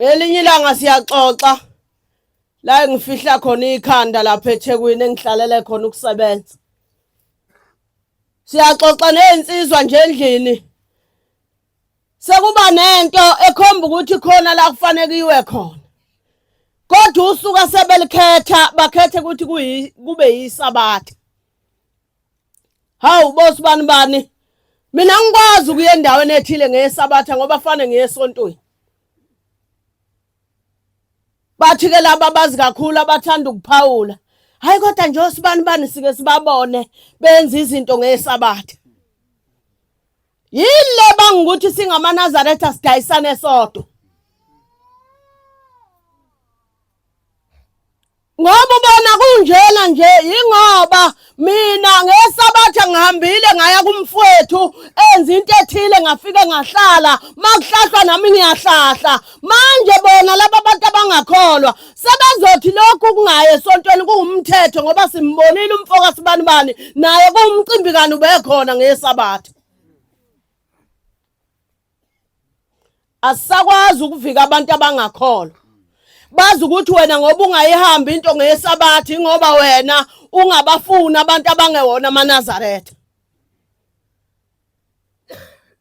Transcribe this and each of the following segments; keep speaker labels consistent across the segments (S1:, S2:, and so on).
S1: Ngelinye ilanga siyaxoxa la ngifihla khona ikhanda lapha eThekwini engihlalele khona ukusebenza. Siyaxoxa nezinsizwa nje endlini. Sekuba nento ekhomba ukuthi khona la kufanele iwe khona. Kodwa usuka sebelikhetha bakhethe ukuthi kube yisabatha. Hawu boss bani bani. Mina ngikwazi ukuya endaweni ethile ngesabatha ngoba fane ngesontweni. Bathi ke laba bazi kakhulu abathanda ukuphawula. Hayi kodwa nje osibani bani sike sibabone benza izinto ngesabatha. Yile bangukuthi singamaNazaretha sidayisane sodwa. Ngoba ubona kunjena nje yingoba mina ngesabatha ngihambile ngaya kumfwethu enza into ethile ngafike ngahlala makuhlahlwa nami ngiyahlahla manje bona laba bantu abangakholwa sebezothi lokhu kungaye esontweni kuwumthetho ngoba simbonile umfoka sibani bani naye kuwumcimbi kani ubekhona ngesabatha asisakwazi ukuvika abantu abangakholwa bazi ukuthi wena ngoba ungayihambi into ngesabathi ngoba wena ungabafuni abantu abangewona amanazaretha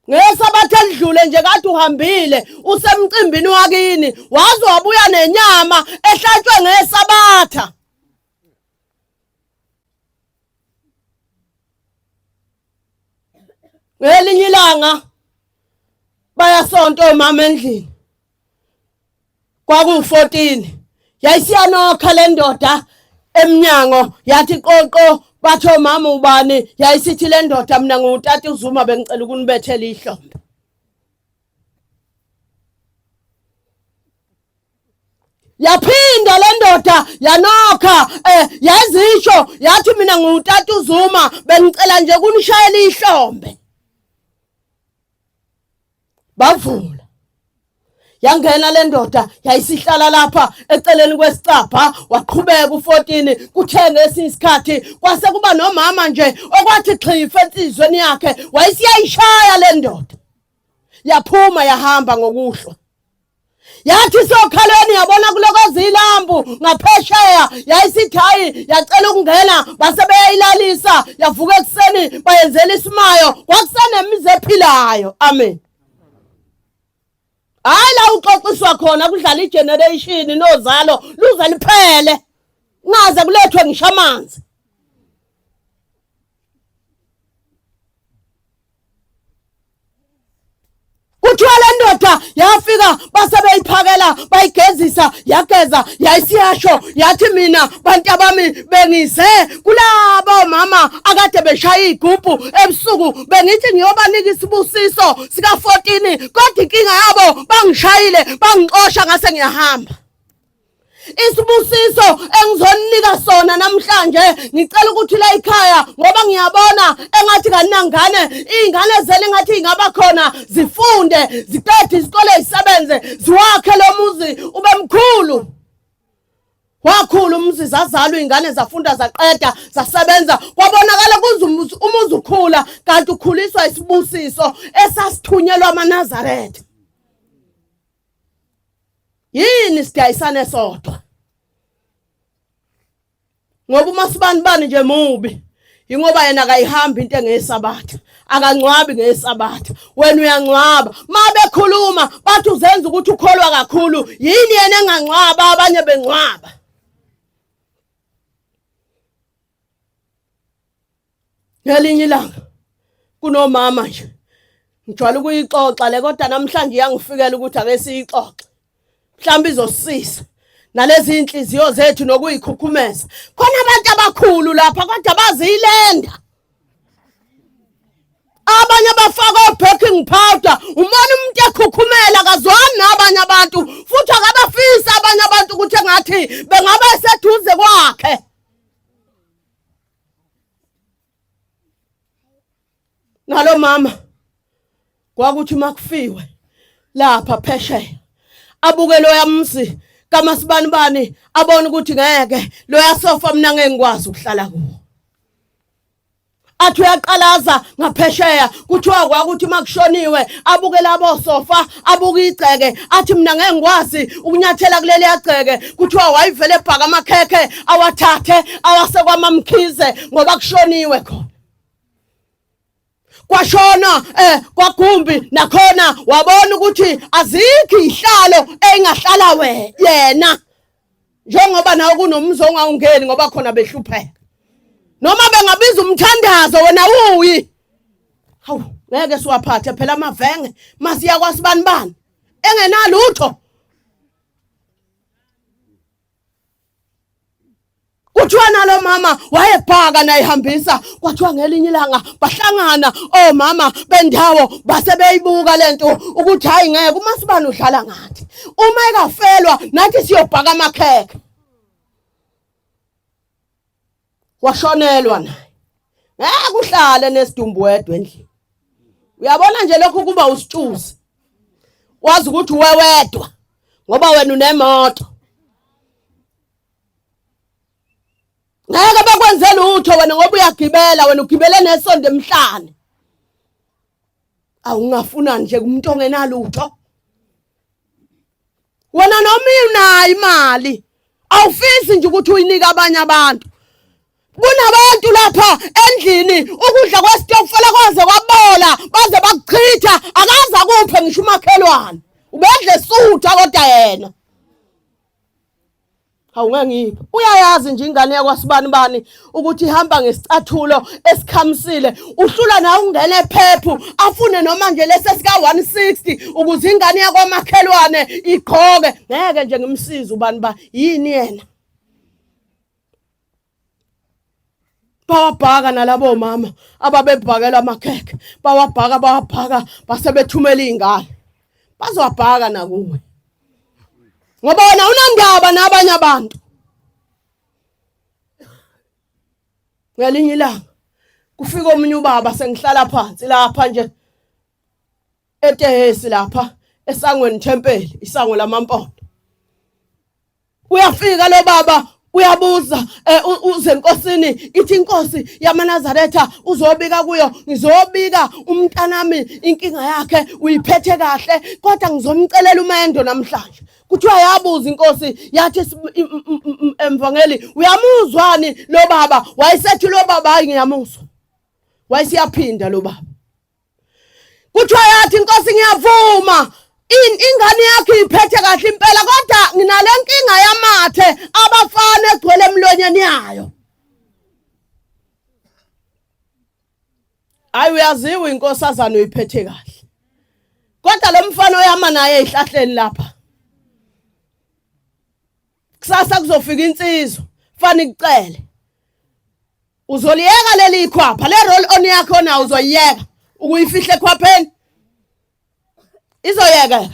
S1: ngesabathi elidlule nje kade uhambile usemcimbini wakini waze wabuya nenyama ehlatshwe ngesabatha ngelinye ilanga bayasonta omama endlini kwakungu-14 yayisiyanokha le ndoda emnyango yathi qoqo batho mama ubani yayisithi le ndoda mina ngutata uzuma bengicela ukunibethela ihlombe yaphinda le ndoda yanokha eh yazisho yathi mina ngutata uzuma bengicela nje kunishayela ihlombe bavula yangena le ndoda yayisihlala lapha eceleni kwesicabha waqhubeka u-14 kuthenge esinye isikhathi kwase kuba nomama nje okwathi xhifa ensizweni yakhe wayesiyayishaya le ndoda yaphuma yahamba ngokuhlwa yathi sokhalweni yabona kulokoza ilambu ngaphesheya yayisithi hayi yacela ukungena base beyayilalisa yavuka ekuseni bayenzela isimayo kwakusenemizi ephilayo amen hayi la uxoxiswa khona kudlala igeneration nozalo luze liphele ngaze kulethwe ngisho amanzi kuthiwa le ndoda yafika base beyiphakela bayigezisa yageza yayisiyasho yathi mina bantu abami bengize kulabo mama akade beshaya igubhu ebusuku bengithi ngiyobanika isibusiso sika-14 kodwa inkinga yabo bangishayile bangixosha ngase ngiyahamba isibusiso engizoninika sona namhlanje ngicela ukuthi la ikhaya ngoba ngiyabona engathi kaningangane iy'ngane zele engathi ingaba khona zifunde ziqede isikole zisebenze ziwakhe lo muzi ube mkhulu wakhulu umzi zazalwa iy'ngane zafunda zaqeda zasebenza kwabonakala kuze umuzi ukhula kanti ukhuliswa isibusiso esasithunyelwa amanazaretha yini sidayisane sodwa ngoba uma sibani bani nje mubi ingoba yena akayihambi into engeyesabatha akangcwabi ngeyesabatha wena uyangcwaba ma bekhuluma bathi uzenza ukuthi ukholwa kakhulu yini yena engangcwaba abanye bengcwaba ngelinye ilanga kunomama nje ngijwayele ukuyixoxa le kodwa namhlanje iyangifikela ukuthi ake siyixoxe mhlawumbe izosisiza nalezi inhliziyo zethu nokuyikhukhumeza khona abantu abakhulu lapha kodwa baziyilenda abanye abafaka o-backing powder umona umuntu ekhukhumela kazwani nabanye abantu futhi akabafisi abanye abantu ukuthi engathi bengaba seduze kwakhe nalo mama kwakuthi makufiwe lapha phesheya abuke loya mzi kamasibani bani abone ukuthi ngeke loya sofa mina ngeke ngikwazi ukuhlala kuwo athi uyaqalaza ngaphesheya kuthiwa kwakuthi makushoniwe abuke labo sofa abuka igceke athi mina ngeke ngikwazi ukunyathela kuleli yagceke kuthiwa wayivele ebhaka amakhekhe awathathe awase kwamamkhize ngoba kushoniwe khona kwashona eh kwagumbi nakhona wabona ukuthi azikho ihlalo engahlala we yena njengoba nawe kunomuzi ongawungeni ngoba khona behlupheka noma bengabiza umthandazo wena uyi hawu ngeke siwaphathe phela amavenge masiya kwasibani bani engenalutho Kuthiwa nalo mama wayebhaka nayihambisa kwathiwa ngelinye ilanga bahlangana omama oh bendawo base beyibuka lento ukuthi hayi ngeke uma sibani udlala ngathi uma ekafelwa nathi siyobhaka amakhekhe washonelwa naye ngeke uhlale nesidumbu wedwa endlini uyabona nje lokho kuba usitshuzi wazi ukuthi wewedwa ngoba wena unemoto ngeke bakwenze lutho wena ngoba uyagibela wena ugibele nesonto emhlane awungafuna nje kumuntu ongenalutho wena noma inayo imali awufisi nje ukuthi uyinike abanye abantu kunabantu lapha endlini ukudla kwesitokufela kwaze kwabola baze bakuchitha akaza kuphe ngisho umakhelwane ubedle sutha kodwa yena Hawu ngangiphi? Uyayazi nje ingane yakwasibani bani ukuthi ihamba ngesicathulo esikhamisile. Uhlula na ungene phephu afune noma nje lesi sika 160 ukuze ingane yakwamakhelwane igqoke. Ngeke nje ngimsize ubani ba yini yena? bawabhaka nalabo mama ababebhakela amakhekhe bawabhaka bawabhaka base bethumela iy'ngane bazowabhaka nakuwe ngoba wena unandaba nabanye abantu ngelinye ilanga kufika omunye ubaba sengihlala phansi lapha nje etehesi lapha esangweni thempeli isango lamampondo uyafika lo baba uyabuza eh, uze enkosini ithi inkosi yamanazaretha uzobika kuyo ngizobika umntanami inkinga yakhe uyiphethe kahle kodwa ngizomcelela umendo namhlanje kuthiwa yabuza inkosi yathi emvangeli uyamuzwani lo baba wayesethi lo baba hayi ngiyamuzwa wayesiyaphinda lo baba kuthiwa yathi inkosi ngiyavuma ingane yakhe iphethe kahle impela kodwa nginale nkinga yamathe abafana egcwele emlonyeni yayo hayi uyaziwa inkosazana uyiphethe kahle kodwa lo mfana oyama naye ezihlahleni lapha kusasa kuzofika insizwa fani kucele uzoliyeka leli khwapha le roll on yakho na uzoyiyeka ukuyifihle khwapheni izoyekeka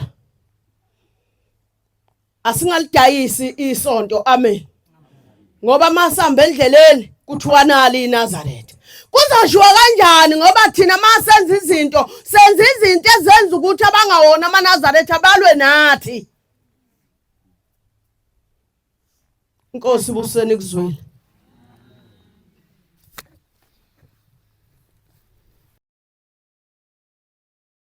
S1: asingalidayisi isonto amen ngoba masihamba endleleni kuthiwa nali iNazaretha kuzoshiwa kanjani ngoba thina masenza izinto senza izinto ezenza ukuthi abangawona amaNazaretha balwe nathi Inkosi buseni kuzwile.